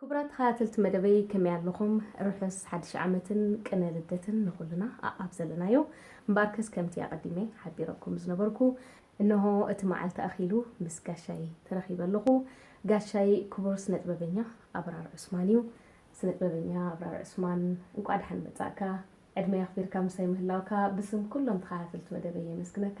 ክቡራት ተኸታተልቲ መደበይ ከመይ ኣለኹም ርሑስ ሓድሽ ዓመትን ቅነ ልደትን ንኹልና ኣኣብ ዘለናዮ እምበኣርከስ ከምቲ ኣቐዲመ ሓቢረኩም ዝነበርኩ እነሆ እቲ መዓልቲ ኣኺሉ ምስ ጋሻይ ተረኺበ ኣለኹ ጋሻይ ክቡር ስነጥበበኛ ኣብራር ዑስማን እዩ ስነጥበበኛ ኣብራር ዑስማን እንቋዕ ደሓን መጻእካ ዕድመይ ኣኽቢርካ ምሳይ ምህላውካ ብስም ኩሎም ተኸታተልቲ መደበይ የመስግነካ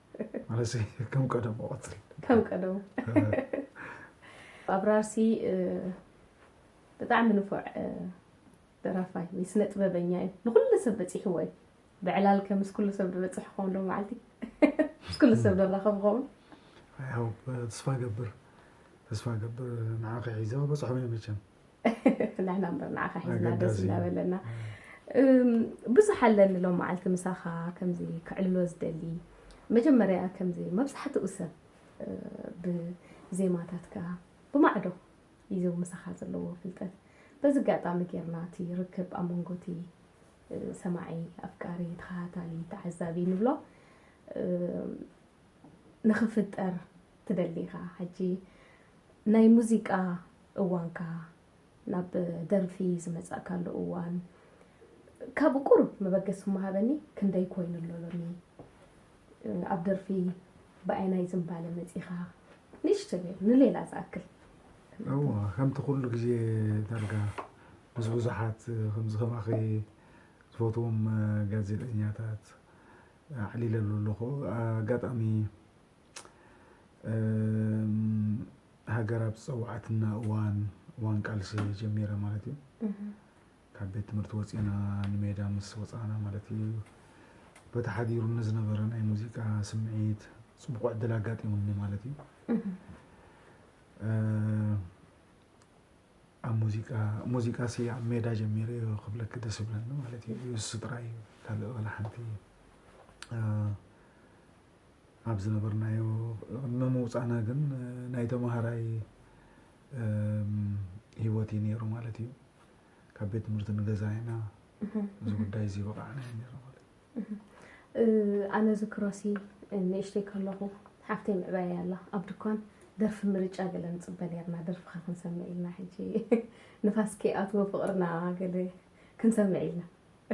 ማለሰይ ከም ቀደሙ ቀፅል ከም ቀደሙ ኣብራርሲ ብጣዕሚ ንፉዕ ደራፋይ ወይ ስነ ጥበበኛ እዩ ንኩሉ ሰብ በፂሕዎ እዩ ብዕላል ከ ምስ ኩሉ ሰብ ዝበፅሕ ክኸውን ዶ መዓልቲ ምስ ኩሉ ሰብ ዘራኸብ ክኸውን ያው ተስፋ ገብር ተስፋ ገብር ንዓኺ ሒዘ በፅሖም እየ መቸም ንሕና እምበር ንዓኻ ሒዝና ደስ እናበለና ብዙሕ ኣለኒ ሎም መዓልቲ ምሳኻ ከምዚ ክዕልሎ ዝደሊ መጀመርያ ከምዚ መብዛሕትኡ ሰብ ብዜማታትካ ብማዕዶ እዩ ምሳኻ ዘለዎ ፍልጠት በዚ ኣጋጣሚ ጌርና እቲ ርክብ ኣብ መንጎ እቲ ሰማዒ ኣፍቃሪ ተኸታታሊ ተዓዛቢ ንብሎ ንኽፍጠር ትደሊ ኢኻ ሕጂ ናይ ሙዚቃ እዋንካ ናብ ደርፊ ዝመጻእካሉ እዋን ካብ ቁሩብ መበገሲ ምሃበኒ ክንደይ ኮይኑ ኣሎ ሎሚ ኣብ ደርፊ ብኣይናይ ዝምባለ መጺኻ ንእሽቶ ጌር ንሌላ ዝኣክል እዋ ከምቲ ኩሉ ግዜ ዳርጋ ምስ ብዙሓት ከምዚ ከማኺ ዝፈትዎም ጋዜጠኛታት ኣዕሊለሉ ኣለኹ ኣጋጣሚ ሃገር ኣብ ዝፀወዓትና እዋን እዋን ቃልሲ ጀሚረ ማለት እዩ ካብ ቤት ትምህርቲ ወፂና ንሜዳ ምስ ወፃና ማለት እዩ በቲ ሓዲሩኒ ዝነበረ ናይ ሙዚቃ ስምዒት ፅቡቕ ዕድል ኣጋጢሙኒ ማለት እዩ ኣብ ሙዚቃ ሙዚቃ ሲ ኣብ ሜዳ ጀሚረ እዩ ክብለክ ደስ ይብለኒ ማለት እዩ እሱ ጥራይ እዩ ካልእ ዋላ ሓንቲ ኣብ ዝነበርናዮ ቅድሚ ምውፃእና ግን ናይ ተምሃራይ ሂወት እዩ ነይሩ ማለት እዩ። ካብ ቤት ትምህርቲ ንገዛ ኢና እዚ ጉዳይ እዚ በቃዕና እዩ ነይሩ ማለት እዩ። ኣነ ዝክሮሲ ንእሽተይ ከለኹ ሓፍተይ ምዕባይ ኣላ ኣብ ድኳን ደርፊ ምርጫ ገለ ንፅበ ነርና ደርፍኻ ክንሰምዕ ኢልና ሕጂ ንፋስ ከይኣትዎ ፍቕርና ገለ ክንሰምዕ ኢልና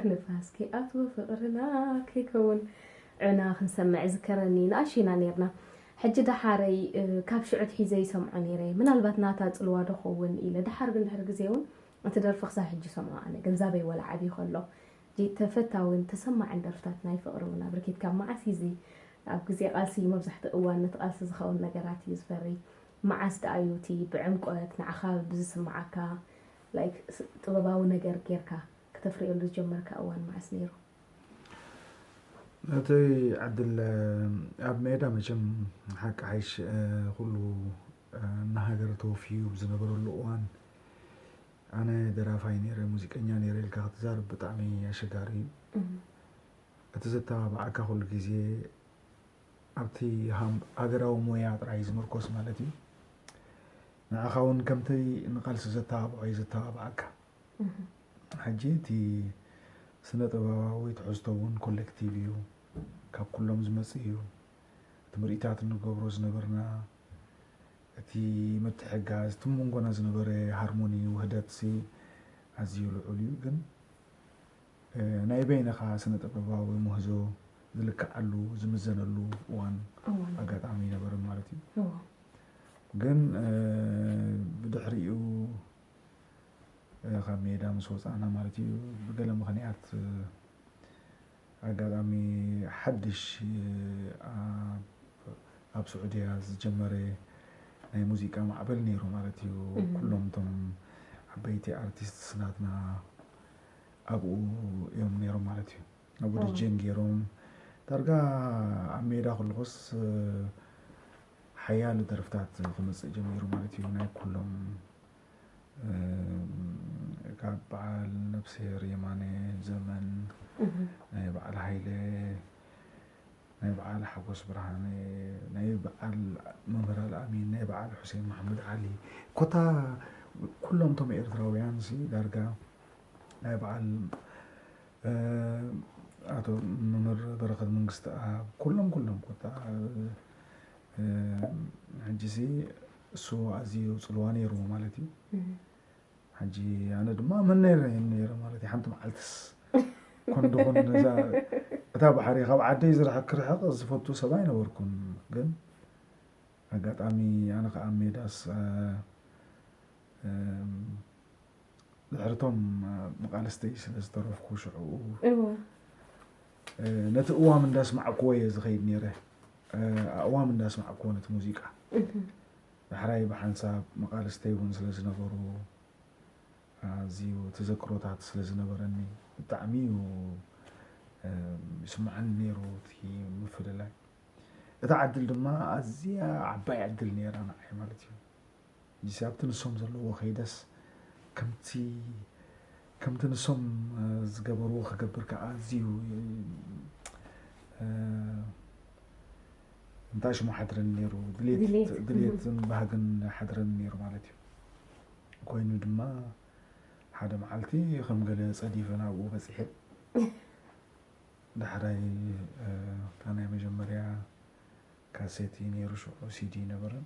ንፋስ ከይኣትዎ ፍቅርና ከይከውን ዑና ክንሰምዕ እዝከረኒ ንኣሽቱ ኢና ኔርና ሕጂ ደሓረይ ካብ ሽዑ ኣትሒዘ ይሰምዖ ኔረ ምናልባት ናታ ጽልዋ ዶ ከውን ኢለ ደሓር ግን ድሕሪ ግዜ ውን እቲ ደርፊ ክሳብ ሕጂ ይሰምዖ ኣነ ገንዛበይ ወላ ዓብዩ ከሎ ጂ ተፈታዊን ተሰማዕን ደርፍታት ናይ ፍቅሪ ውን ኣብርኪት ካብ መዓስ እዚ ኣብ ግዜ ቃልሲ መብዛሕትኡ እዋን ነቲ ቃልሲ ዝከውን ነገራት እዩ ዝፈሪ መዓስ ደኣ እዩ እቲ ብዕምቆት ንዓካ ብዝስምዓካ like ጥበባዊ ነገር ጌርካ ክተፍርየሉ ዝጀመርካ እዋን መዓስ ነይሩ? ናተይ ዕድል ኣብ ሜዳ መቸም ሓቂ ሓይሽ ኩሉ እናሃገረ ተወፍዩ ብዝነበረሉ እዋን ኣነ ደራፋይ ነይረ ሙዚቀኛ ነይረ ኢልካ ክትዛርብ ብጣዕሚ ኣሸጋሪ እዩ እቲ ዘተባብዓካ ኩሉ ግዜ ኣብቲ ሃገራዊ ሞያ ጥራይ ዝምርኮስ ማለት እዩ ንዓኻ ውን ከምተይ ንቃልሲ ዘተባብዖ እዩ ዘተባብዓካ። ሕጂ እቲ ስነ ጥበባዊ ትሕዝቶ ውን ኮሌክቲቭ እዩ ካብ ኩሎም ዝመጽእ እዩ። እቲ ምርኢታት እንገብሮ ዝነበርና እቲ ምትሕግጋዝ እቲ መንጎና ዝነበረ ሃርሞኒ ውህደትሲ ኣዝዩ ልዑል እዩ ግን። ናይ በይንኻ ስነ ጥበባዊ ምህዞ ዝልክዓሉ ዝምዘነሉ እዋን ኣጋጣሚ ነበርን ማለት እዩ ግን ብድሕሪኡ ካብ ሜዳ ምስ ወፃእና ማለት እዩ ብገለ ምክንያት ኣጋጣሚ ሓድሽ ኣብ ስዑድያ ዝጀመረ ናይ ሙዚቃ ማዕበል ነይሩ ማለት እዩ ኩሎም እቶም ዓበይቲ ኣርቲስትስ ናትና ኣብኡ እዮም ነይሮም ማለት እዩ ኣብኡ ድጄን ገይሮም ዳርጋ ኣብ ሜዳ ክልኩስ ሓያሎ ደርፍታት ክመፅእ ጀሚሩ ማለት እዩ ናይ ኩሎም ካብ በዓል ነብስሄር የማነ ዘመን ናይ በዓል ሃይለ ናይ በዓል ሓጎስ ብርሃነ ናይ በዓል መምህር ኣልኣሚን ናይ በዓል ሑሴን መሓመድ ዓሊ ኮታ ኩሎም እቶም ኤርትራውያን ሲ ዳርጋ ናይ በዓል ኣቶ መምህር በረኸት መንግስትኣብ ኩሎም ኩሎም ኮታ ሕጂሲ እሱ ኣዝዩ ጽልዋ ነይርዎ ማለት እዩ ሕጂ ኣነ ድማ መነይ ረኣየኒ ነይረ ማለት እዩ ሓንቲ መዓልትስ ኮን ድኾን ነዛ እታ ባሕሪ ካብ ዓደይ ዝርሕቅ ክርሕቅ ዝፈቱ ሰብ ኣይነበርኩን ግን ኣጋጣሚ ኣነ ከዓ ሜዳስ ድሕርቶም መቃልስተይ ስለ ዝተረፍኩ ሽዕኡ ነቲ እዋም እንዳስማዕክዎ እየ ዝኸይድ ነይረ ኣእዋም እንዳስማዕክዎ ነቲ ሙዚቃ ዳሕራይ ብሓንሳብ መቓልስተይ እውን ስለ ዝነበሩ ኣዝዩ ተዘክሮታት ስለ ዝነበረኒ ብጣዕሚ እዩ ይስመዓኒ ነይሩ እቲ ምፍልላይ። እታ ዕድል ድማ ኣዝያ ዓባይ ዕድል ነይራ ንዓይ ማለት እዩ። ሕጂሲ ኣብቲ ንሶም ዘለዎ ከይደስ ከምቲ ከምቲ ንሶም ዝገበርዎ ክገብር ከኣ ኣዝዩ እንታይ ሽሙ ሓድረኒ ነይሩ ድሌትን ባህግን ሓድረኒ ነይሩ ማለት እዩ ኮይኑ ድማ ሓደ መዓልቲ ከም ገለ ጸዲፈ ናብኡ በፂሐ ዳሕራይ እታ ናይ መጀመርያ ካሴት እዩ ነይሩ ሽዑ ሲዲ ነበረን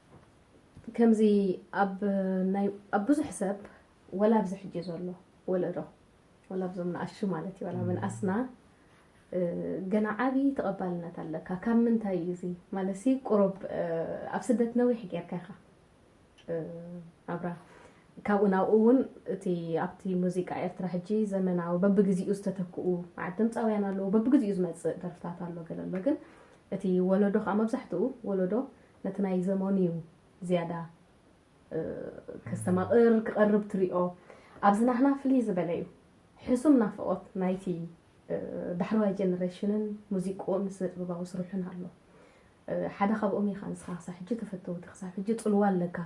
ከምዚ ኣብ ናይ ኣብ ብዙሕ ሰብ ወላ ኣብዚ ሕጂ ዘሎ ወለዶ ወላ ኣብዞም ንኣሹ ማለት እዩ ወላ ምንኣስና ገና ዓብዪ ተቐባልነት ኣለካ ካብ ምንታይ እዩ እዚ ማለት ሲ ቁሩብ ኣብ ስደት ነዊሕ ጌርካ ኢኻ ኣብራ ካብኡ ናብኡ እውን እቲ ኣብቲ ሙዚቃ ኤርትራ ሕጂ ዘመናዊ በብግዜኡ ዝተተክኡ መዓት ድምፃውያን ኣለዉ በብግዜኡ ዝመፅእ ደርፍታት ኣሎ ገለ ኣሎ ግን እቲ ወለዶ ከዓ መብዛሕትኡ ወለዶ ነቲ ናይ ዘመኑ'ዩ ዝያዳ ከስተማቕር፣ ክቐርብ ትሪኦ። ኣብዚ ናህና ፍልይ ዝበለ'ዩ። ሕሱም ናፍቖት ናይቲ ዳሕረዋይ ጀነረሽንን ሙዚቅኡን ስነጥበባዊ ስርሑን ኣሎ። ሓደ ካብኦም ኢኻ ንስኻ ክሳብ ሕጂ ተፈተውቲ ክሳብ ሕጂ ጽልዋ ኣለካ።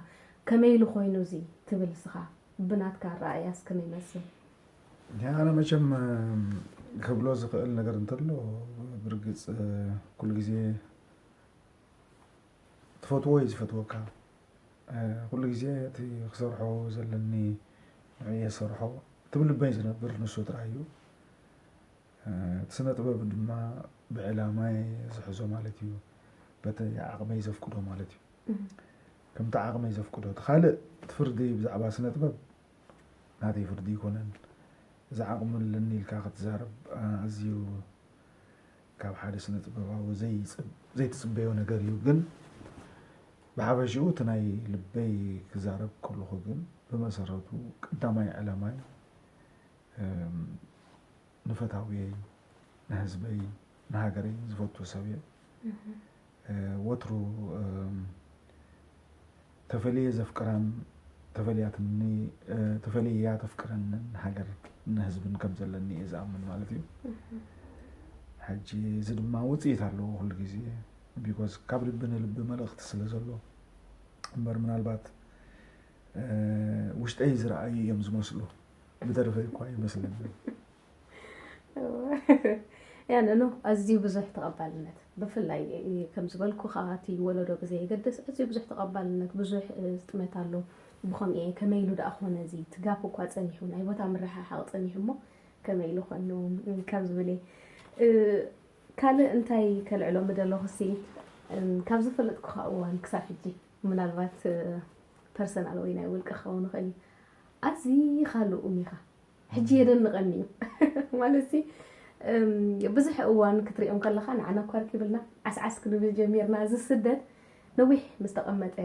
ከመይ ኢሉ ኮይኑ እዚ ትብል ንስኻ? ብናትካ ኣረኣእያስ ከመይ ይመስል? ኣነ መቸም ክብሎ ዝኽእል ነገር እንተሎ ብርግጽ ኩሉ ግዜ ትፈትዎ እዩ ዝፈትወካ ኩሉ ግዜ እቲ ክሰርሖ ዘለኒ ንዕኡ እየ ዝሰርሖ እቲ ብልበይ ዝነብር ንሱ ጥራይ እዩ እቲ ስነ ጥበብ ድማ ብዕላማይ ዝሕዞ ማለት እዩ በቲ ዓቕመይ ዘፍቅዶ ማለት እዩ ከምቲ ዓቕመይ ዘፍቅዶ እቲ ካልእ እቲ ፍርዲ ብዛዕባ ስነ ጥበብ ናተይ ፍርዲ ኣይኮነን እዚ ዓቕሚ ኣለኒ ኢልካ ክትዛረብ ኣዝዩ ካብ ሓደ ስነ-ጥበባዊ ዘይትጽበዮ ነገር እዩ ግን ብሓፈሽኡ እቲ ናይ ልበይ ክዛረብ ከለኹ ግን ብመሰረቱ ቀዳማይ ዕላማይ ንፈታውየይ ንህዝበይ ንሃገረይ ዝፈቱ ሰብ እየ ወትሩ ተፈልየ ዘፍቅራን ተፈልያትኒ ተፈልያ ተፍቅረንን ሃገር ንህዝብን ከም ዘለኒ እየ ዝኣምን ማለት እዩ ሕጂ እዚ ድማ ውፅኢት ኣለዎ ኩሉ ግዜ ቢኮዝ ካብ ልቢ ንልቢ መልእኽቲ ስለ ዘሎ እምበር ምናልባት ውሽጠይ ዝረኣዩ እዮም ዝመስሉ ብደርፈይ እኳ ይመስለኒ ያንኑ ኣዝዩ ብዙሕ ተቐባልነት ብፍላይ ከም ዝበልኩ ከዓ እቲ ወለዶ ብዘየገድስ ኣዝዩ ብዙሕ ተቐባልነት ብዙሕ ዝጥመት ኣሎ ብኸምኡ እየ ከመይ ኢሉ ደኣ ኮነ እዚ ትጋፍ እኳ ፀኒሑ ናይ ቦታ ምርሕሓቕ ፀኒሑ እሞ ከመይ ኢሉ ኮይኑ ካብ ዝብል ካልእ እንታይ ከልዕሎ ምደለኹ ሲ ካብ ዝፈለጥኩኻ እዋን ክሳብ ሕጂ ምናልባት ፐርሰናል ወይ ናይ ውልቂ ክኸውን ይኽእል እዩ ኣዝኻ ልኡም ኢኻ ሕጂ የደንቐኒ እዩ ማለትሲ ብዙሕ እዋን ክትሪኦም ከለኻ ንዓና እኳ ርኪብልና ዓስዓስ ክንብል ጀሚርና እዚ ስደት ነዊሕ ምስ ተቐመጠ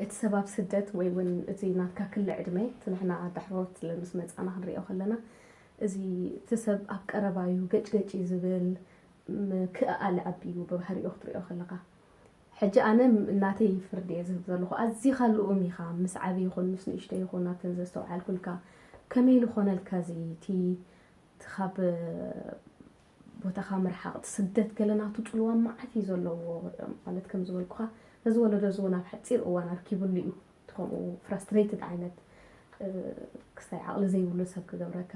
እቲ ሰብ ኣብ ስደት ወይ እውን እቲ ናትካ ክሊ ዕድመ እቲ ንሕና ዳሕሮት ምስ መፃና ክንሪኦ ከለና እዚ እቲ ሰብ ኣብ ቀረባ እዩ ገጭገጭ እዩ ዝብል ምክእኣል ዓቢ እዩ ብባህሪኡ ክትሪኦ ከለካ ሕጂ ኣነ ናተይ ፍርዲ እየ ዝህብ ዘለኹ ኣዚኻ ልኡም ኢኻ ምስ ዓቢ ይኹን ምስ ንእሽቶ ይኹን ኣብተን ዘስተውዓልኩልካ ከመይ ልኾነልካ እዚ እቲ ካብ ቦታኻ ምርሓቕ እቲ ስደት ገለ ናቱ ጽልዋ መዓት እዩ ዘለዎ ማለት ከም ዝበልኩኻ ነዚ ወለዶ እዚ እውን ኣብ ሓጺር እዋን ኣርኪብሉ እዩ እቲ ከምኡ ፍራስትሬትድ ዓይነት ክስታይ ዓቕሊ ዘይብሉ ሰብ ክገብረካ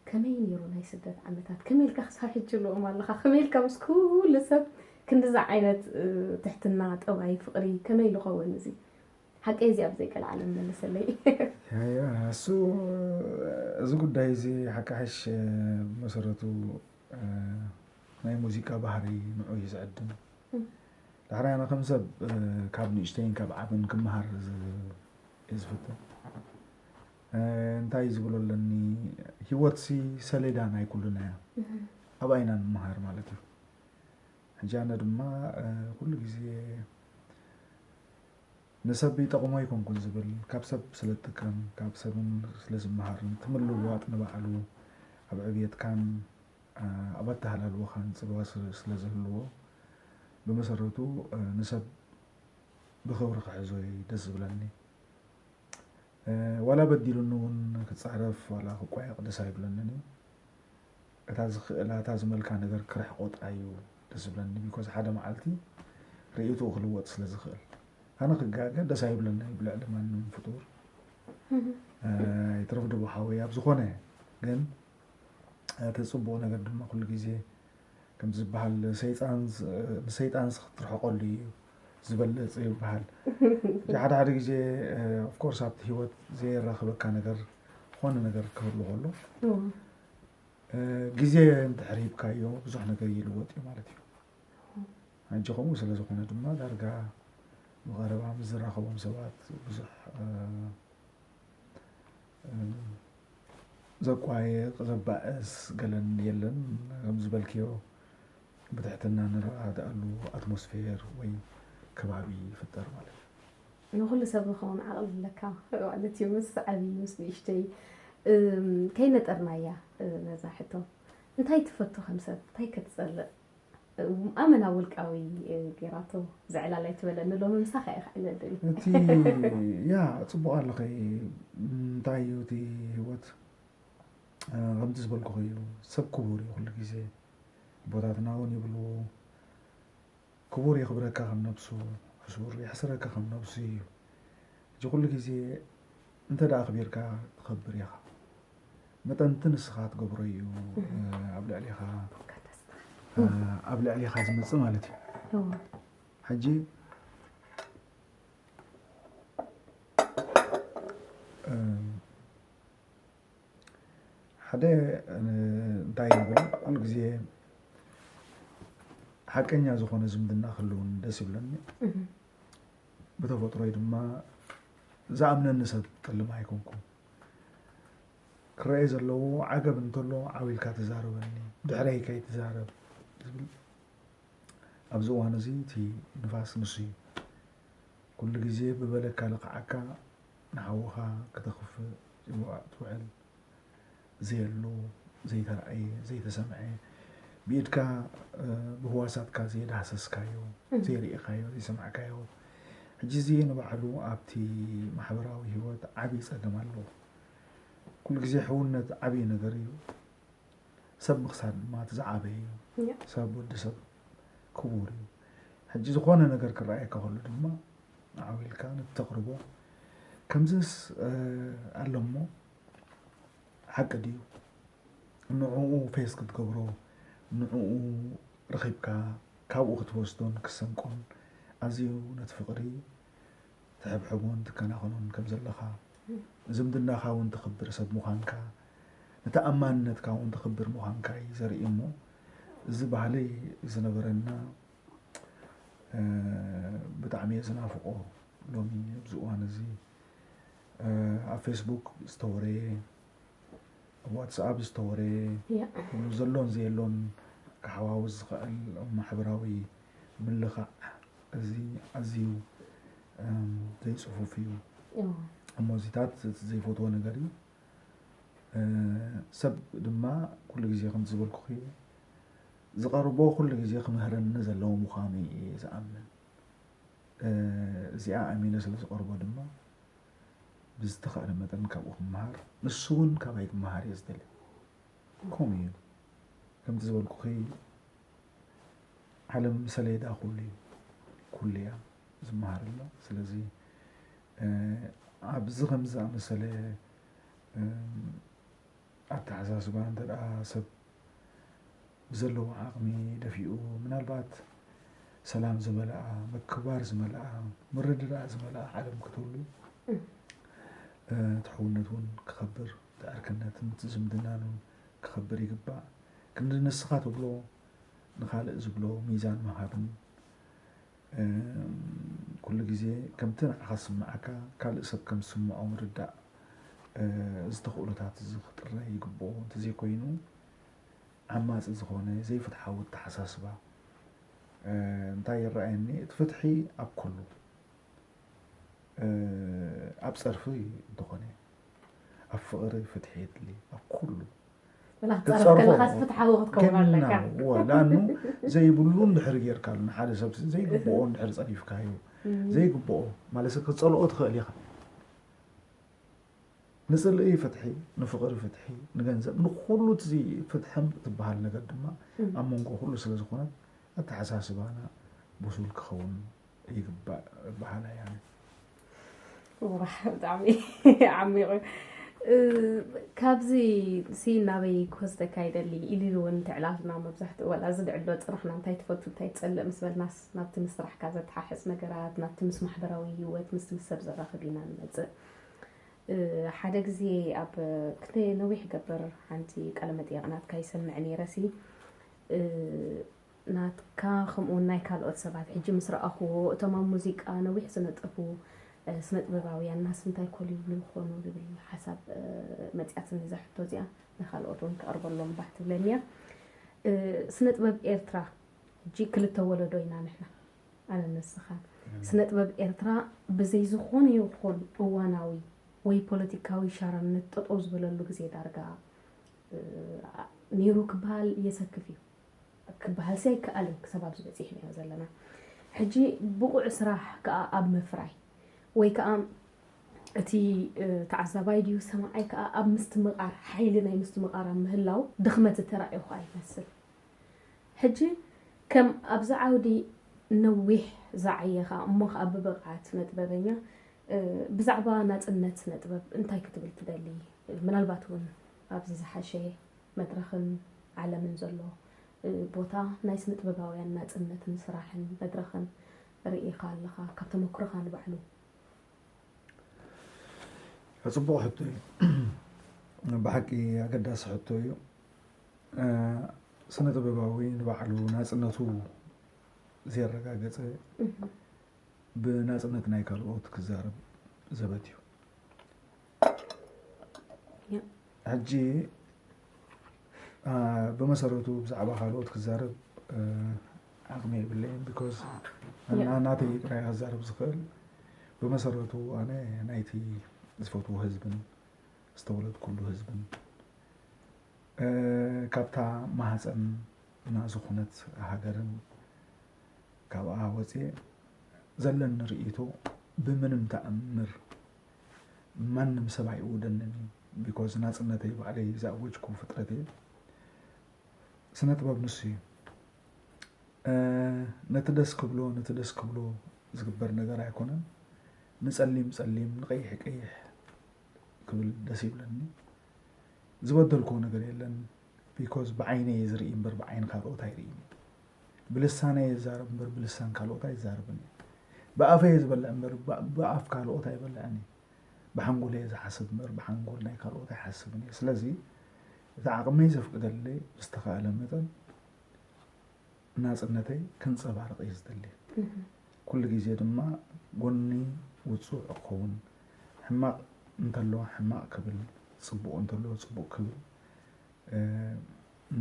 ከመይ ኔሩ ናይ ስደት ዓመታት ከመይ ኢልካ ክሳብ ሕጂ ልኡም ኣለኻ ከመይ ኢልካ ምስ ኩሉ ሰብ ክንድዚ ዓይነት ትሕትና ጠባይ ፍቕሪ ከመይ ልኸውን እዚ ሓቀይ እዚ ኣብ ዘይቀልዓለም መልሰለይ እሱ እዚ ጉዳይ እዚ ሓቃሕሽ መሰረቱ ናይ ሙዚቃ ባህሪ ንዑ እዩ ዝዕድም ዳሕራይ ኣነ ከም ሰብ ካብ ንእሽተይን ካብ ዓብን ክመሃር እዩ ዝፍትን እንታይ ዝብሎ ኣለኒ ሂወትሲ ሰሌዳ ናይ ኩሉና እያ ኣብኣ ኢና ንምሃር ማለት እዩ ሕጂ ኣነ ድማ ኩሉ ግዜ ንሰብ ይጠቕሞ ኣይኮንኩን ዝብል ካብ ሰብ ስለ ዝጥቀም ካብ ሰብ ስለ ዝመሃርን ትምልዋጥ ንባዕሉ ኣብ ዕብየትካን ኣብ ኣተሃላልወኻን ፅልዋ ስለ ዝህልዎ ብመሰረቱ ንሰብ ብክብሪ ክሕዞ እዩ ደስ ዝብለኒ ዋላ በዲሉኒ ውን ክጻረፍ ዋላ ክቋየቕ ደስ ኣይብለንን እዩ እታ ዝክእላ እታ ዝመልካ ነገር ክርሕቆ ጥራይ እዩ ደስ ዝብለኒ ቢኮዝ ሓደ መዓልቲ ርእይትኡ ክልወጥ ስለ ዝኽእል ኣነ ክጋገ ደስ ኣይብለና እዩ ብልዕሊ ማንም ፍጡር ይትረፍ ድቦ ሓወይ ኣብ ዝኾነ ግን እቲ ጽቡቕ ነገር ድማ ኩሉ ግዜ ከምቲ ዝበሃል ንሰይጣንስ ክትርሕቀሉ እዩ ዝበለፅ ይበሃል ሓደ ሓደ ግዜ ኦፍኮርስ ኣብቲ ሂወት ዘየራክበካ ነገር ዝኾነ ነገር ክህሉ ከሎ ግዜ እንድሕር ሂብካዮ ብዙሕ ነገር ይልወጥ እዩ ማለት እዩ ሕጂ ከምኡ ስለዝኾነ ድማ ዳርጋ ብቐረባ ምስ ዝራኸቦም ሰባት ብዙሕ ዘቋየቕ ዘባእስ ገለን የለን ከምዝበልክዮ ብትሕትና ንረዳድኣሉ ኣትሞስፌር ወይ ከባቢ ይፍጠር ማለት እዩ። ንኹሉ ሰብ ንኸውን ዓቕሊ ኣለካ ማለት እዩ ምስ ዓብዪ ምስ ንእሽተይ ከይነጠርናያ ነዛ ሕቶ እንታይ ትፈቱ ከም ሰብ እንታይ ከትፀልእ ኣመና ውልቃዊ ጌራቶ ዘዕላል ኣይትበለኒ ሎሚ ምሳኻ እየ ክዕለልል እቲ ያ ፅቡቅ ኣለኸ እንታይ እዩ እቲ ህይወት ከምቲ ዝበልኩኸ እዩ ሰብ ክቡር እዩ ኩሉ ግዜ ቦታትና እውን ይብሉ ክቡር የኽብረካ ከም ነብሱ ሕሱር የሕስረካ ከም ነብሱ እዩ እዚ ኩሉ ግዜ እንተ ኣኽቢርካ ትኸብር ኢኻ መጠን እቲ ንስኻ ትገብሮ እዩ ኣብ ልዕሊኻ ኣብ ልዕሊኻ ዝመፅእ ማለት እዩ ሕጂ ሓደ እንታይ ይብል ኩሉ ግዜ ሓቀኛ ዝኾነ ዝምድና ክህልውን ደስ ይብለኒ ብተፈጥሮይ ድማ ዝኣምነኒ ሰብ ጥልም ኣይኮንኩን። ክረኤ ዘለዎ ዓገብ እንተሎ ዓው ኢልካ ተዛረበኒ፣ ድሕረይ ከይትዛረብ ዝብል ኣብዚ እዋን እዚ እቲ ንፋስ ንሱ እዩ። ኩሉ ግዜ ብበለካ ልኽዓካ ንሓውኻ ክተኽፍእ ትውዕል። ዘየሎ፣ ዘይተራእየ፣ ዘይተሰምዐ፣ ብኢድካ ብህዋሳትካ ዘይዳህሰስካዮ፣ ዘይርኢኻዮ፣ ዘይሰማዕካዮ፣ ሕጂ እዚ ንባዕሉ ኣብቲ ማሕበራዊ ህይወት ዓብዪ ጸገም ኣለዎ። ኩሉ ግዜ ሕውነት ዓብዪ ነገር እዩ፣ ሰብ ምኽሳር ድማ እቲ ዝዓበየ እዩ። ሰብ ወዲ ሰብ ክቡር እዩ። ሕጂ ዝኾነ ነገር ክረኣየካ ከሎ ድማ ዓው ኢልካ ነቲ ተቕርቦ ከምዝስ ኣሎ እሞ ሓቂ ድዩ ንዕኡ ፌስ ክትገብሮ ንዕኡ ረኺብካ ካብኡ ክትወስዶን ክሰንቆን ኣዝዩ ነቲ ፍቕሪ ትሕብሕቦን ትከናኸኖን ከም ዘለኻ ዝምድናኻ እውን ተኽብር ሰብ ምዃንካ ንተኣማንነትካ እውን ተኽብር ምዃንካ እዩ ዘርኢ እሞ እዚ ባህሊ ዝነበረና ብጣዕሚ እየ ዝናፍቆ ሎሚ ኣብዚ እዋን እዚ ኣብ ፌስቡክ ዝተወረየ ኣብ ዋትስኣፕ ዝተወረየ ዘሎን ዘየሎን ክሓዋውስ ዝኽእል ማሕበራዊ ምልኻዕ እዚ ኣዝዩ ዘይፅፉፍ እዩ እሞ እዚታት እቲ ዘይፈትዎ ነገር እዩ ሰብ ድማ ኩሉ ግዜ ከምቲ ዝበልኩኺ ዝቐርቦ ኩሉ ግዜ ክምህረኒ ዘለዎ ምዃኑ እየ ዝኣምን እዚኣ ኣሚነ ስለ ዝቐርቦ ድማ ብዝተኻእለ መጠን ካብኡ ክመሃር ንሱ እውን ካባይ ክመሃር እየ ዝደሊ ከምኡ እዩ ከምቲ ዝበልኩኺ ዓለም ሰሌዳ ኩሉ እዩ ኩሉ እያ ዝመሃር ኣሎ ስለዚ ኣብዚ ከምዚ ዝኣመሰለ ኣተሓሳስባ እንተ ሰብ ብዘለዎ ዓቕሚ ደፊኡ ምናልባት ሰላም ዝመልኣ ምክባር ዝመልኣ ምርድዳእ ዝመልኣ ዓለም ክትህሉ ትሕውነት እውን ክኸብር ትዕርክነትን ዝምድናን እውን ክኸብር ይግባእ ክንዲ ንስኻ ትብሎ ንካልእ ዝብሎ ሚዛን ምሃብን ኩሉ ግዜ ከምቲ ንዓኻ ዝስምዓካ ካልእ ሰብ ከም ዝስምዖ ምርዳእ። እዚ ተኽእሎታት እዚ ክጥረ ይግብኦ፣ እንተዘይኮይኑ ዓማጺ ዝኾነ ዘይፍትሓዊ ኣተሓሳስባ እንታይ ይረኣየኒ እቲ ፍትሒ ኣብ ኩሉ ኣብ ጸርፊ እንተኾነ ኣብ ፍቕሪ ፍትሒ የድሊ ኣብ ኩሉ ላኑ ዘይብሉ ድሕሪ ጌርካ ንሓደ ሰብ ዘይግብኦ ድሕሪ ፀሪፍካዩ ዘይግብኦ ማለት ክፀልኦ ትኽእል ኢኻ ንፅልኢ ፍትሒ ንፍቕሪ ፍትሒ ንገንዘብ ንኩሉ ፍትሒ ትበሃል ነገር ድማ ኣብ መንጎ ኩሉ ስለዝኾነ ኣተሓሳስባና ብሱል ክኸውን ይግባእ በሃላይ ብጣዕሚ ዓሚቑ ካብዚ ሲ ናበይ ክወስደካ ይደሊ ኢሉ እውን ትዕላልና መብዛሕትኡ ዋላ እዚ ድዕሎ ፅናሕና እንታይ ትፈቱ እንታይ ትፀልእ ምስ በልናስ ናብቲ ምስ ስራሕካ ዘተሓሕዝ ነገራት ናብቲ ምስ ማሕበራዊ ሂወት ምስቲ ምስ ሰብ ዘራኽብ ኢና ንመፅእ ሓደ ግዜ ኣብ ክተ ነዊሕ ገበር ሓንቲ ቃለ መጠየቕ ናትካ ይሰምዕ ነይረሲ ናትካ ከምኡውን ናይ ካልኦት ሰባት ሕጂ ምስ ረኣኹዎ እቶም ኣብ ሙዚቃ ነዊሕ ዝነጠፉ ስነጥበባውያንናስ እንታይ ኮል ይብሉ ይኾኑ ዝብል ሓሳብ መጺኣትኒ እዛ ሕቶ እዚኣ ንካልኦት እውን ክቐርበሎም ባህ ትብለኒ እያ ስነጥበብ ኤርትራ ሕጂ ክልተ ወለዶ ኢና ንሕና ኣነ ንስኻን ስነጥበብ ኤርትራ ብዘይ ዝኾነ ይኹን እዋናዊ ወይ ፖለቲካዊ ሻራነት ጠጠው ዝበለሉ ግዜ ዳርጋ ነይሩ ክበሃል የሰክፍ እዩ ክበሃልሲ ኣይከኣልን ክሳብ ኣብዚ በጺሕናዮ ዘለና ሕጂ ብቑዕ ስራሕ ከኣ ኣብ ምፍራይ ወይ ከኣ እቲ ተዓዛባይ ድዩ ሰማዓይ ከኣ ኣብ ምስትምቓር ሓይሊ ናይ ምስትምቓር ኣብ ምህላው ድኽመት ዝተራእዮ ከኣ ይመስል ሕጂ ከም ኣብዚ ዓውዲ ነዊሕ ዝዓየኻ እሞ ከኣ ብብቕዓት ስነጥበበኛ ብዛዕባ ናጽነት ስነጥበብ እንታይ ክትብል ትደሊ ምናልባት እውን ኣብዚ ዝሓሸ መድረኽን ዓለምን ዘሎ ቦታ ናይ ስነጥበባውያን ናጽነትን ስራሕን መድረኽን ርኢኻ ኣለኻ ካብ ተመክሮኻ ንባዕሉ? ፅቡቕ ሕቶ እዩ ብሓቂ ኣገዳሲ ሕቶ እዩ ስነ ጥበባዊ ንባዕሉ ናፅነቱ ዘረጋገፀ ብናፅነት ናይ ካልኦት ክዛረብ ዘበት እዩ ሕጂ ብመሰረቱ ብዛዕባ ካልኦት ክዛረብ ዓቕሚ የብለይን ቢኮዝ ናተይ ጥራይ ክዛረብ ዝኽእል ብመሰረቱ ኣነ ናይቲ ዝፈትዎ ህዝብን ዝተወለድኩሉ ህዝብን ካብታ ማህፀን እና ዝኾነት ሃገርን ካብኣ ወፅየ ዘለኒ ርእይቶ ብምንም ተኣምር ማንም ሰብ ኣይእውደንን እዩ ቢኮዝ ናፅነተይ ባዕለይ ዝኣወጅኩ ፍጥረት እየ ስነ ጥበብ ንሱ እዩ ነቲ ደስ ክብሎ ነቲ ደስ ክብሎ ዝግበር ነገር ኣይኮነን ንፀሊም ፀሊም ንቀይሕ ቀይሕ ክብል ደስ ይብለኒ ዝበደልኩዎ ነገር የለን ቢኮዝ ብዓይነይ እየ ዝርኢ እምበር ብዓይኒ ካልኦት ኣይርእይን እየ ብልሳነይ እየ ዝዛረብ እምበር ብልሳን ካልኦት ኣይዛረብን እየ ብኣፈይ እየ ዝበልዕ እምበር ብ- ብኣፍ ካልኦት ኣይበልዕን እየ ብሓንጎለይ እየ ዝሓስብ እምበር ብሓንጎል ናይ ካልኦት ኣይሓስብን እየ ስለዚ እቲ ዓቕመይ ዘፍቅደለይ ብዝተኻእለ መጠን ናጽነተይ ከንጸባርቕ እየ ዝደሊ። ኩሉ ግዜ ድማ ጎኒ ውጹዕ እኸውን። ሕማቕ እንተሎ ሕማቕ ክብል፣ ጽቡቕ እንተሎ ጽቡቕ ክብል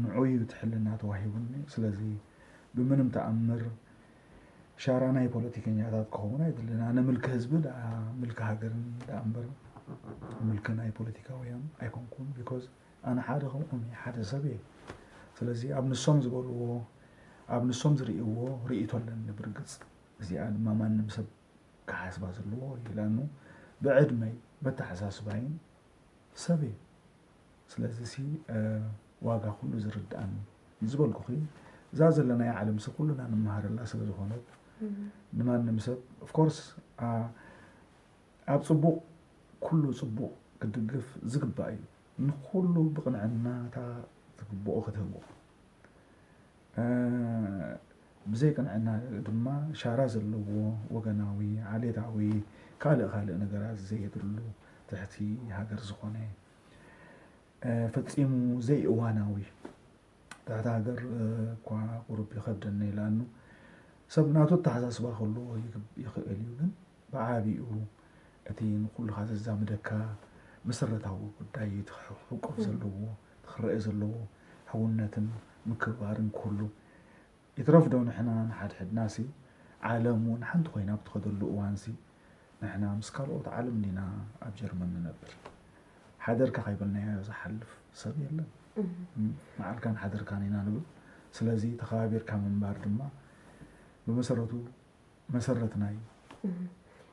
ንዑ እዩ እቲ ሕልና ተዋሂቡኒ። ስለዚ ብምንም ተኣምር ሻራ ናይ ፖለቲከኛታት ክኸውን ኣይድልን። ኣነ ምልኪ ህዝቢ ደኣ ምልኪ ሃገርን ደኣ እምበር ምልኪ ናይ ፖለቲካውያን ኣይኮንኩን ቢኮዝ ኣነ ሓደ ከምኦም እየ ሓደ ሰብ እየ ስለዚ ኣብ ንሶም ዝበልዎ ኣብ ንሶም ዝርእይዎ ርእይቶ ኣለኒ ብርግፅ እዚኣ ድማ ማንም ሰብ ክሓስባ ዘለዎ ይላኑ ብዕድመይ በተሓሳስባይን ሰብ እየ ስለዚ ሲ ዋጋ ኩሉ ዝርድኣኒ ዝበልኩኺ እዛ ዘለናያ ዓለም ሲ ኩሉና ንመሃረላ ስለ ዝኾነት ንማንም ሰብ ኦፍኮርስ ኣብ ጽቡቕ ኩሉ ጽቡቕ ክትድግፍ ዝግባእ እዩ። ንኹሉ ብቕንዕና እታ ዝግብኦ ክትህቦ ብዘይ ቅንዕና ድማ ሻራ ዘለዎ ወገናዊ ዓሌታዊ ካልእ ካልእ ነገራት ዘየድሉ ትሕቲ ሃገር ዝኾነ ፈጺሙ ዘይእዋናዊ እታ ሃገር እኳ ቁሩብ ይኸብደኒ ይላሉ። ሰብ ናቱ ኣተሓሳስባ ክህልዎ ይኽእል እዩ፣ ግን ብዓቢኡ እቲ ንኹልኻ ዘዛምደካ መሰረታዊ ጉዳይ እዩ፣ እቲ ክሕቆፍ ዘለዎ፣ እቲ ክረኣ ዘለዎ ሕውነትን ምክብባርን ክህሉ ይትረፍ ዶ ንሕና ንሓድሕድናሲ ዓለም ውን ሓንቲ ኮይና ኣብ ትኸደሉ እዋንሲ ንሕና ምስ ካልኦት ዓለም ዲና ኣብ ጀርመን ንነብር? ሓደርካ ከይበልናዮ ዝሓልፍ ሰብ የለን። መዓልካን ሓደርካን ኢና ንብል። ስለዚ ተኸባቢርካ ምንባር ድማ ብመሰረቱ መሰረት ናይ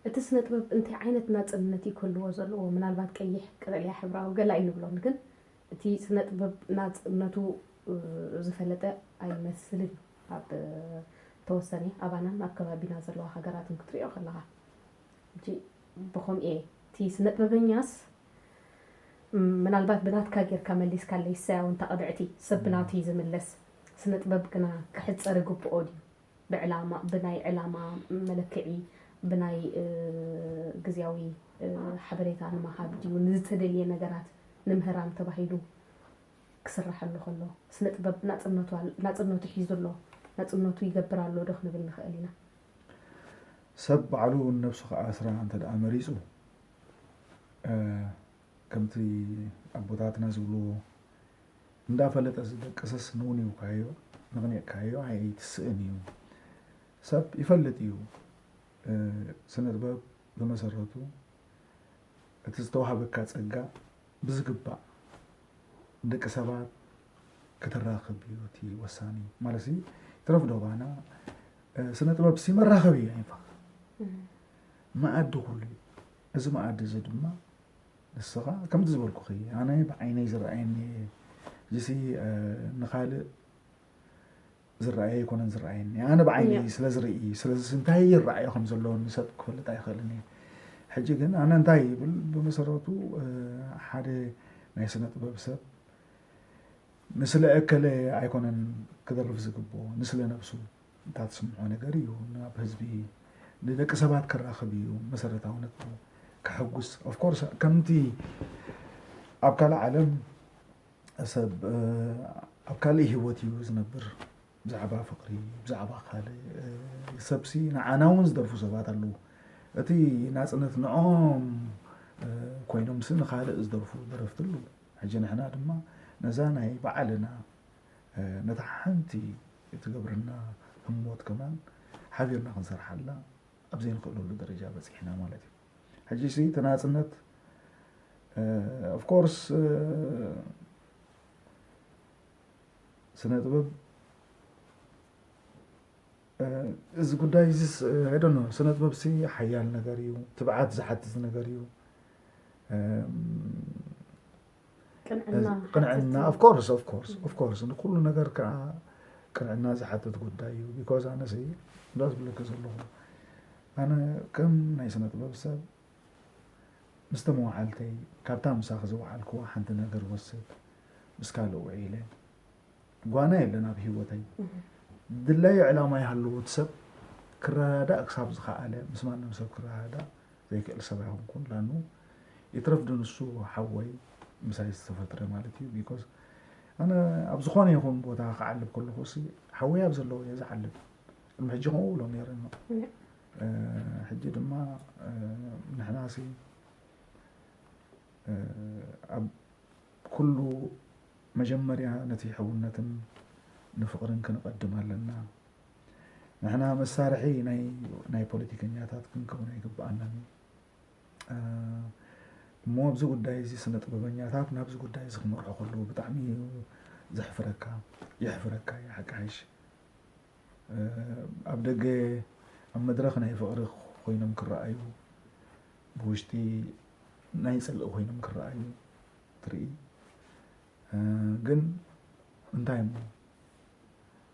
እቲ ስነ ጥበብ እንታይ ዓይነት ናጽነት እዩ ክህልዎ ዘለዎ? ምናልባት ቀይሕ፣ ቀጠልያ፣ ሕብራዊ ገለ ኣይንብሎን፣ ግን እቲ ስነጥበብ ናጽነቱ ዝፈለጠ ኣይመስልን እዩ ኣብ ተወሰነ ኣባናን ኣብ ከባቢና ዘለዋ ሃገራትን ክትሪኦ ከለኻ ሕጂ ብኸምኡ እየ እቲ ስነጥበበኛስ ምናልባት ብናትካ ጌርካ መሊስካለይ እሰያው እንተ ቅብዕቲ ሰብ ብናቱ እዩ ዝምለስ ስነጥበብ ግና ክሕጸር ይግብኦ ድዩ ብዕላማ ብናይ ዕላማ መለክዒ ብናይ ግዝያዊ ሓበሬታ ንምሃብ ድዩ ንዝተደልየ ነገራት ንምህራም ተባሂሉ ክስራሐሉ ከሎ ስነ ጥበብ ናጽነቱ ናጽነቱ ሒዙ ኣሎ ናጽነቱ ይገብር ኣሎ ዶ ክንብል ንኽእል ኢና። ሰብ ባዕሉ ንነብሱ ክኣስራ እንተደኣ መሪጹ ከምቲ ኣቦታትና ዝብልዎ እንዳፈለጠ ዝደቅስስ ንውኒውካዮ ንቕኒቕካዮ ኣይትስእን እዩ። ሰብ ይፈልጥ እዩ። ስነጥበብ ብመሰረቱ እቲ ዝተዋህበካ ጸጋ ብዝግባእ ደቂ ሰባት ከተራኽብ እዩ እቲ ወሳኒ ማለት ሲ ትረፍ ዶ ባና ስነ ጥበብ ሲ መራኸቢ እዩ ኣይንፋ መኣዲ ኩሉ እዩ እዚ መኣዲ እዚ ድማ ንስኻ ከምቲ ዝበልኩኺ ኣነ ብዓይነይ ዝረኣየኒ እየ እዚሲ ንኻልእ ዝረኣየ ኣይኮነን ዝረኣየኒ ኣነ ብዓይነይ ስለ ዝርኢ ስለዚ እንታይ ይረኣዮ ከም ዘለዎ ንሰብ ክፈልጥ ኣይኽእልን እየ ሕጂ ግን ኣነ እንታይ ይብል ብመሰረቱ ሓደ ናይ ስነ ጥበብ ሰብ ንስለ እከለ ኣይኮነን ክደርፍ ዝግብኦ ንስለ ነብሱ እንታይ ትስምዖ ነገር እዩ ናብ ህዝቢ ንደቂ ሰባት ክራኸብ እዩ መሰረታዊ ነጥቡ ከሐጉስ ኦፍኮርስ ከምቲ ኣብ ካልእ ዓለም ሰብ ኣብ ካልእ ሂወት እዩ ዝነብር ብዛዕባ ፍቅሪ ብዛዕባ ካልእ ሰብሲ ንዓና እውን ዝደርፉ ሰባት ኣለዉ እቲ ናፅነት ንኦም ኮይኖምሲ ንካልእ ዝደርፉ ደረፍቲ ኣለዉ ሕጂ ንሕና ድማ ነዛ ናይ ባዕልና ነታ ሓንቲ እትገብረና ህሞት ከማን ሓቢርና ክንሰርሓላ ኣብ ዘይንኽእለሉ ደረጃ በጺሕና ማለት እዩ። ሕጂሲ እቲ ናጽነት ኦፍ ኮርስ ስነ ጥበብ እዚ ጉዳይ እዚ ዶነ ስነ ጥበብ ሲ ሓያል ነገር እዩ፣ ትብዓት ዝሓትት ነገር እዩ። ቅንዕና ኦፍኮርስ ኦፍኮርስ ኦፍኮርስ ንኩሉ ነገር ከዓ ቅንዕና ዝሓትት ጉዳይ እዩ ቢኮዝ ኣነ ሲ እንዳ ዝብለኪ ዘለኹ ኣነ ከም ናይ ስነ ጥበብ ሰብ ምስቲ መዋዕልተይ ካብታ ምሳኺ ዝወዓልክዋ ሓንቲ ነገር ወስድ ምስ ካልእ ውዒለ ጓና የለን ኣብ ሂወተይ ድላዩ ዕላማ ይሃለዎ እቲ ሰብ ክረዳዳእ ክሳብ ዝኸኣለ ምስ ማንም ሰብ ክረዳዳእ ዘይክእል ሰብ ኣይኮንኩን ላኑ ይትረፍ ድንሱ ሓወይ ምሳይ ዝተፈጥረ ማለት እዩ ቢኮዝ ኣነ ኣብ ዝኾነ ይኹን ቦታ ክዓልብ ከለኹ ሲ ሓወይ ኣብ ዘለዎ እየ ዝዓልብ ቅድሚ ሕጂ ከምኡ ብሎ ነይረ ሕጂ ድማ ንሕና ሲ ኣብ ኩሉ መጀመርያ ነቲ ሕውነትን ንፍቕርን ክንቐድም ኣለና። ንሕና መሳርሒ ናይ ፖለቲከኛታት ክንከውን ኣይግብኣናን እዩ። እሞ ኣብዚ ጉዳይ እዚ ስነ ጥበበኛታት ናብዚ ጉዳይ እዚ ክመርሑ ከለዉ ብጣዕሚ እዩ ዘሕፍረካ የሕፍረካ እዩ ሓቂ ሓይሽ ኣብ ደገ ኣብ መድረኽ ናይ ፍቕሪ ኮይኖም ክረኣዩ ብውሽጢ ናይ ፅልኢ ኮይኖም ክረኣዩ ትርኢ ግን እንታይ እሞ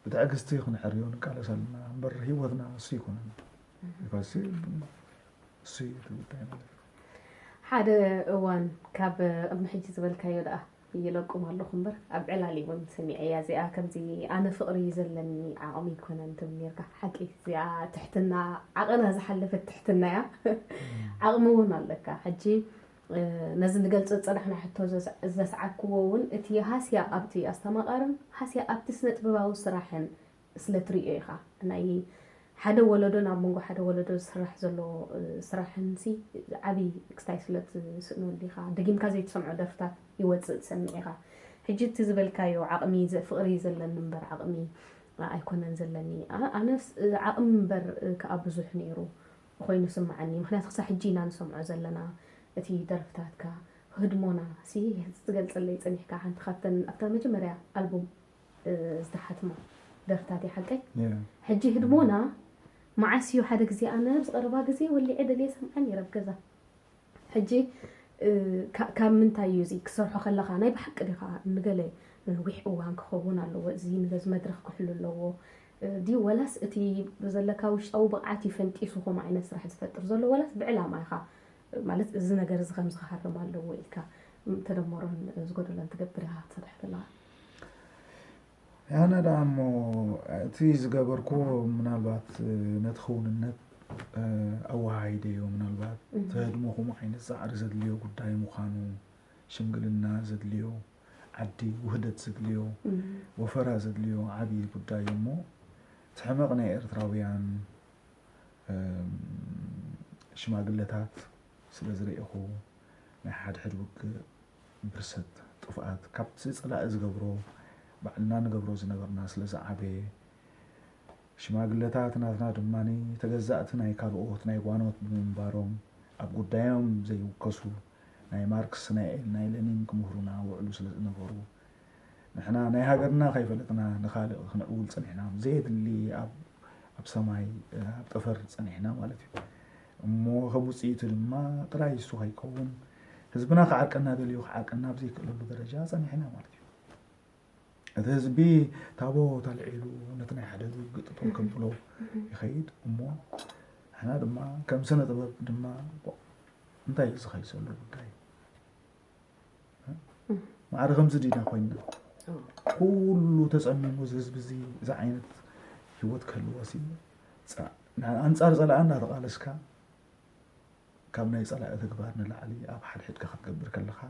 ብትዕግስቲ ክንዕርዮ ንቃለስ ኣለና እምበር ህይወትና እሱ ይኮነን ቢካዝ እሱ እዩ እቲ ጉዳይ ማለት እዩ ሓደ እዋን ካብ ቅድሚ ሕጂ ዝበልካዮ ደኣ ይለቁም ኣለኹ እምበር ኣብ ዕላል እውን ሰሚዐያ እዚኣ ከምዚ ኣነ ፍቕሪ እዩ ዘለኒ ዓቕሚ ይኮነን ትብል ነርካ ሓቂ እዚኣ ትሕትና ዓቕና ዝሓለፈት ትሕትና እያ ዓቕሚ እውን ኣለካ ሕጂ ነዚ ንገልጺ ዝጸናሕና ሕቶ ዘስዓብኩዎ እውን እቲ ሃስያ ኣብቲ ኣስተማቓርን ሃስያ ኣብቲ ስነጥበባዊ ስራሕን ስለ ትርእዮ ኢኻ። ናይ ሓደ ወለዶን ኣብ መንጎ ሓደ ወለዶ ዝስራሕ ዘሎ ስራሕንሲ ዓቢ ክስታይ ስለ ትስእነሉ ኢኻ። ደጊምካ ዘይትሰምዖ ደርፍታት ይወጽእ ትሰምዕ ኢኻ። ሕጂ እቲ ዝበልካዮ ዓቕሚ ፍቕሪ ዘለኒ እምበር ዓቕሚ ኣይኮነን ዘለኒ። ኣነስ ዓቕሚ እምበር ከኣ ብዙሕ ነይሩ። ኾይኑ ይስማዓኒ ምኽንያቱ ክሳብ ሕጂ ኢና ንሰምዖ ዘለና እቲ ደርፍታትካ ህድሞና ሲ ትገልጸለይ ጸኒሕካ ሓንቲ ካብተን ኣብታ መጀመርያ ኣልቡም ዝተሓትማ ደርፍታት እያ ሓቀይ ሕጂ ህድሞና መዓስ እዩ ሓደ ግዜ ኣነ ኣብዚ ቀረባ ግዜ ወሊዐ ደልየ ሰምዓ ነይረ ኣብ ገዛ ሕጂ ካብ ምንታይ እዩ እዚ ክትሰርሖ ከለኻ ናይ ብሓቂ ዲኻ ንገለ ንነዊሕ እዋን ክኸውን ኣለዎ እዚ ንገዝ መድረኽ ክሕሉ ኣለዎ ድዩ ወላስ እቲ ዘለካ ውሽጣዊ ብቕዓት እዩ ፈንጢሱ ከምኡ ዓይነት ስራሕ ዝፈጥር ዘሎ ወላስ ብዕላማ ኢኻ ማለት እዚ ነገር እዚ ከምዚ ክሃርም ኣለዎ ኢልካ ተደመሮን ዝጎደሎን ትገብር ኢኻ ትሰርሕ ዘለኻ ኣነ ደኣ እሞ እቲ ዝገበርክዎ ምናልባት ነቲ ክውንነት ኣወሃሂደዮ፣ ምናልባት ተህድሞኹም ዓይነት ጻዕሪ ዘድልዮ ጉዳይ ምዃኑ፣ ሽምግልና ዘድልዮ ዓዲ፣ ውህደት ዘድልዮ ወፈራ ዘድልዮ ዓብዪ ጉዳይ እዩ እሞ እቲ ሕመቕ ናይ ኤርትራውያን ሽማግለታት ስለ ዝርኤኹ ናይ ሓድሕድ ውግእ ብርሰት ጥፍኣት ካብቲ ጸላኢ ዝገብሮ ባዕልና ንገብሮ ዝነበርና ስለ ዝዓበየ ሽማግለታት ናትና ድማ ተገዛእቲ ናይ ካልኦት ናይ ጓኖት ብምንባሮም ኣብ ጉዳዮም ዘይውከሱ ናይ ማርክስ ናይ ኤል ናይ ለኒን ክምህሩና ውዕሉ ስለ ዝነበሩ ንሕና ናይ ሃገርና ከይፈለጥና ንካልእ ክንዕውል ጸኒሕና ዘየድሊ ኣብ ኣብ ሰማይ ኣብ ጠፈር ጸኒሕና ማለት እዩ እሞ ከም ውፅኢቱ ድማ ጥራይ እሱ ከይከውን ህዝብና ክዓርቀና ደልዩ ክዓርቀና ኣብ ዘይክእለሉ ደረጃ ፀኒሕና ማለት እዩ እቲ ህዝቢ ታቦት ኣልዒሉ ነቲ ናይ ሓደ ዝውግጥ ጦር ከብሎ ይኸይድ እሞ ንሕና ድማ ከም ስነ ጥበብ ድማ እንታይ እዩ ዝኸይሰሉ ጉዳይ ማዕረ ከምዚ ዲና ኮይና ኩሉ ተፀሚሙ እዚ ህዝቢ እዚ እዚ ዓይነት ሂወት ክህልዎ ሲ ፃ- ን- ኣንፃር ፀላኢ እናተቓለስካ ካብ ናይ ፀላኢ ተግባር ንላዕሊ ኣብ ሓድሕድካ ክትገብር ከለካ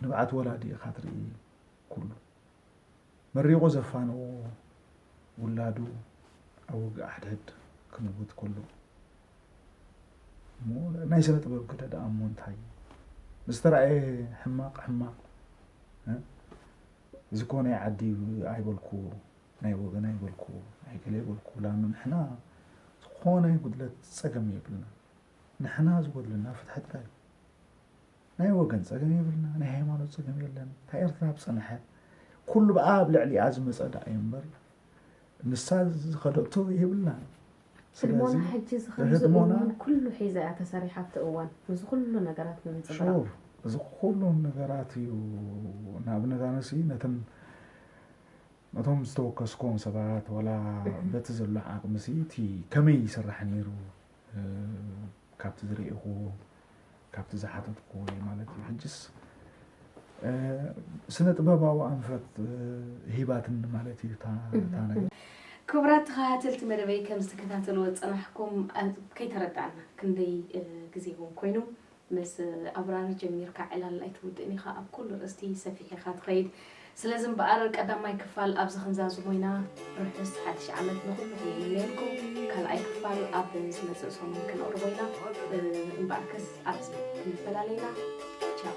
ንብዓት ወላዲ ኢኻ ትርኢ ኩሉ መሪቑ ዘፋነዎ ውላዱ ኣብ ውግእ ሓድሕድ ክምውት ከሎ እሞ ናይ ስነ ጥበብ ግደ ደኣ እሞ እንታይ እዩ? ዝተረኣየ ሕማቅ ሕማቅ እዚ ኮ ናይ ዓዲ ኣይበልኩ ናይ ወገን ኣይበልኩ ናይ ገለ ኣይበልኩ ላም ንሕና ዝኾነ ጉድለት ፀገም የብልና ንሕና ዝጎድለና ፍትሒ ጥራይ ናይ ወገን ጸገም የብልና፣ ናይ ሃይማኖት ጸገም የለን። እታ ኤርትራ ብጽንሐ ኩሉ ብኣ ኣብ ልዕሊኣ ዝመጸ ደኣ እዩ እምበር ንሳ ዝኸደቶ የብልና። ህድሞና ሕጂ እዚ ከምዚ እውን ኩሉ ሒዛ እያ ተሰሪሓ ኣብቲ እዋን እዚ ኩሉ ነገራት ንምንጽብራቕ እዚ ኩሉ ነገራት እዩ ንኣብነት ኣነሲ ነተን ነቶም ዝተወከስኮም ሰባት ዋላ በቲ ዘሎ ዓቕሚሲ እቲ ከመይ ይስራሕ ነይሩ ካብቲ ዝረኤኹዎ ካብቲ ዝሓተትኩዎ እየ ማለት እዩ ሕጅስ ስነ ጥበባዊ ኣንፈት ሂባትኒ ማለት እዩ እታ ነገር። ክቡራት ተኸታተልቲ መደበይ ከም ዝተከታተልዎ ዝፀናሕኩም ከይተረዳእና ክንደይ ግዜ እውን ኮይኑ ምስ ኣብራሪ ጀሚርካ ዕላል ኣይትውድእን ኢኻ ኣብ ኩሉ ርእስቲ ሰፊሕ ኢኻ ትኸይድ ስለዚ እምበኣር ቀዳማይ ክፋል ኣብዚ ክንዛዝሞ ኢና ርሑስ ሓድሽ ዓመት ንኹሉኹም ይምነየልኩም ካልኣይ ክፋል ኣብ ዝመጽእ ሰሙን ክነቕርቦ ኢና እምበኣርከስ ኣብዚ ክንፈላለ ኢና ቻው